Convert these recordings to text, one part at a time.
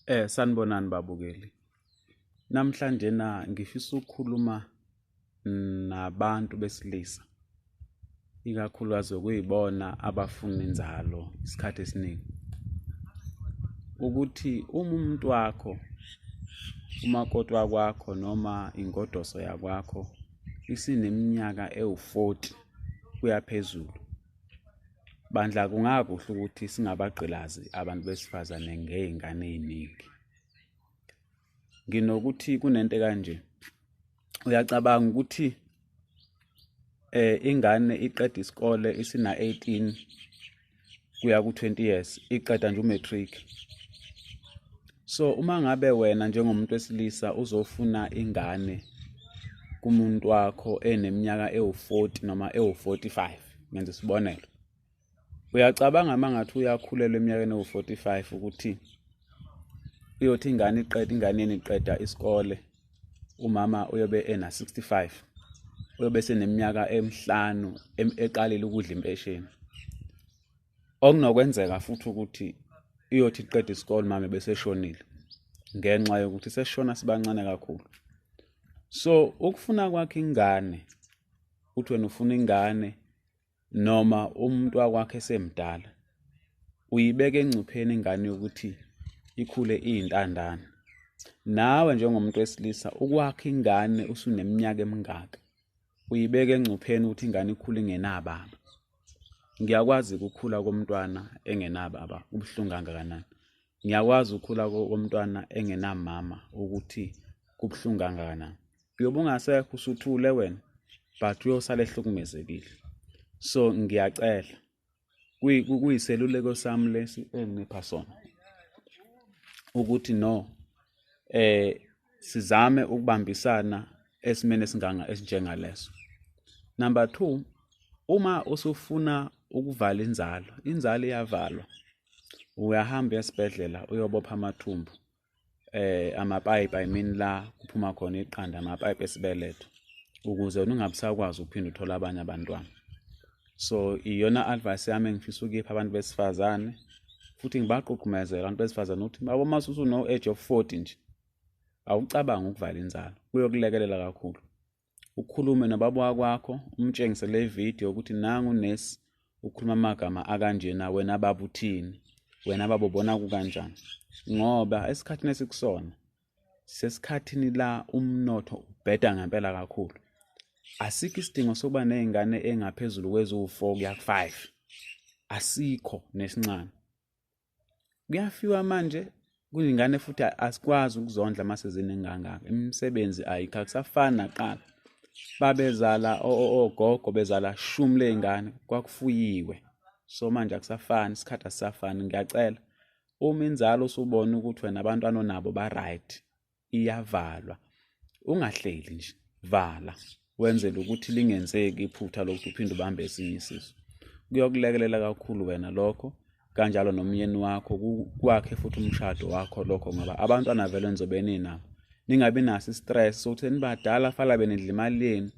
Eh sanibonani babukeli. Namhlanje na ngifisa ukukhuluma nabantu besilisa. Ikakhulukazi okuyibona abafuna inzalo isikhathi esiningi. Ukuthi uma umuntu wakho umakoti wakwakho noma ingodoso yakwakho isineminyaka ewu-40 kuya phezulu Bandla kungakuhle ukuthi singabagqilazi abantu besifazane ngey'ngane ey'ningi. Nginokuthi kunento kanje, uyacabanga ukuthi eh ingane iqeda isikole isina 18 kuya ku 20 years iqeda nje umatric so uma ngabe wena njengomuntu wesilisa uzofuna ingane kumuntu wakho eneminyaka ewu-40 noma ewu-45 ngenza isibonelo uyacabanga uma ngathi uyakhulelwa eminyakeni ewu-45 ukuthi uyothi ingane iqeda ingane yeni iqeda isikole umama uyobe ena-65 uyobe seneminyaka emihlanu eqalile ukudla impesheni okunokwenzeka futhi ukuthi iyothi iqeda isikole mama beseshonile ngenxa yokuthi seshona sibancane kakhulu so ukufuna kwakhe ingane uthi wena ufuna ingane noma umuntu wakwakhe esemdala uyibeka engcupheni ingane yokuthi ikhule iyintandane nawe njengomuntu wesilisa ukwakha ingane usuneminyaka emingaka uyibeka engcupheni ukuthi ingane ikhule ingenababa ngiyakwazi ukukhula komntwana engenababa ubuhlungu kangakanani ngiyakwazi ukukhula komntwana engenamama ukuthi kubuhlungu kangakanani uyobe ungasekho usuthule wena but uyosala ehlukumezekile so ngiyacela kuyiseluleko sami lesi enginipha sona ukuthi no eh sizame ukubambisana esimene singanga esinjengaleso number 2 uma usufuna ukuvala inzalo inzalo iyavalwa uyahamba esibhedlela uyobopha amathumbu eh amapipe i mean la kuphuma khona iqanda amapipe esibeletho ukuze ungabisakwazi ukuphinda uthola abanye abantwana so iyona advice yami engifisa ukuyipha abantu besifazane futhi ngibaqoqumezela abantu besifazane ukuthi babo mase usuno age of 40 nje awucabanga ukuvala inzalo kuyokulekelela kakhulu ukhulume nobaba wakwakho umtshengise le video ukuthi nangu nesi ukhuluma amagama akanjena wena baba uthini wena baba ubona kukanjani ngoba esikhathini esikusona sesikhathini la umnotho ubheda ngempela kakhulu asikho isidingo sokuba nezingane engaphezulu kweziwu-4 kuya ku-5 asikho nesincane kuyafiwa manje kuningane futhi asikwazi ukuzondla mase zinengangaka imisebenzi ayikho akusafani naqala babezala ogogo bezala shumi ley'ngane kwakufuyiwe so manje akusafani isikhathi asisafani ngiyacela uma inzalo usubona ukuthi wena abantwana onabo ba-right iyavalwa ungahleli nje vala wenzele ukuthi lingenzeki iphutha lokuthi uphinde ubambe esinye isisu kuyokulekelela kakhulu wena lokho kanjalo nomyeni wakho kwakhe futhi umshado wakho lokho ngoba abantwana vele nizobe ninabo ningabi naso istress sokuthi nibadala fala benidla imali yenu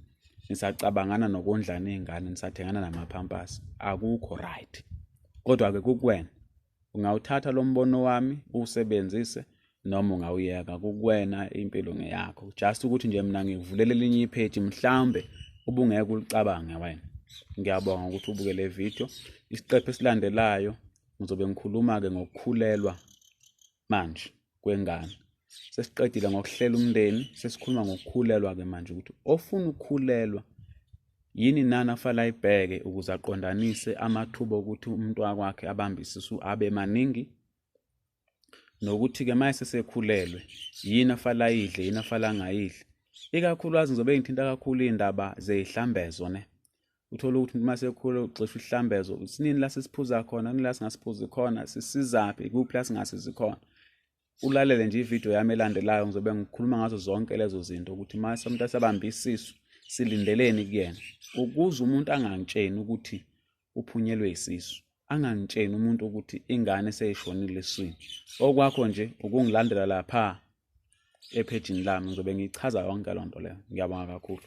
nisacabangana nokondlana iy'ngane nisathengana namaphampasi akukho right kodwa-ke kukuwena Ungawuthatha lo mbono wami uwusebenzise noma ungawuyeka kukwena impilo ngeyakho just ukuthi nje mina ngikuvulela elinye ipheji mhlawumbe ubungeke ulicabange wena ngiyabonga ukuthi ubuke le video isiqephu esilandelayo ngizobe ngikhuluma-ke ngokukhulelwa manje kwengane sesiqedile ngokuhlela umndeni sesikhuluma ngokukhulelwa-ke manje ukuthi ofuna ukukhulelwa yini nani afala ayibheke ukuze aqondanise amathuba okuthi umuntu wakwakhe abambe isisu abe maningi nokuthi-ke uma esesekhulelwe yini afala ayidle yini afala angayidli ikakhulukazi ngizobe ngithinta kakhulu iy'ndaba zey'hlambezo ne uthole ukuthi uma sekhula ugxisha uhlambezo sinini la sisiphuza khona nini la singasiphuzi khona sisizaphi kuphi la singasizi khona ulalele nje ividiyo yami elandelayo ngizobe ngikhuluma ngazo zonke lezo zinto ukuthi uma umuntu asabambe isisu silindeleni kuyena ukuze umuntu angangitsheni ukuthi uphunyelwe isisu angangitsheni umuntu ukuthi ingane seyishonile eswini okwakho nje ukungilandela lapha ephejini lami ngizobe ngiyichaza yonke loo nto leyo ngiyabonga kakhulu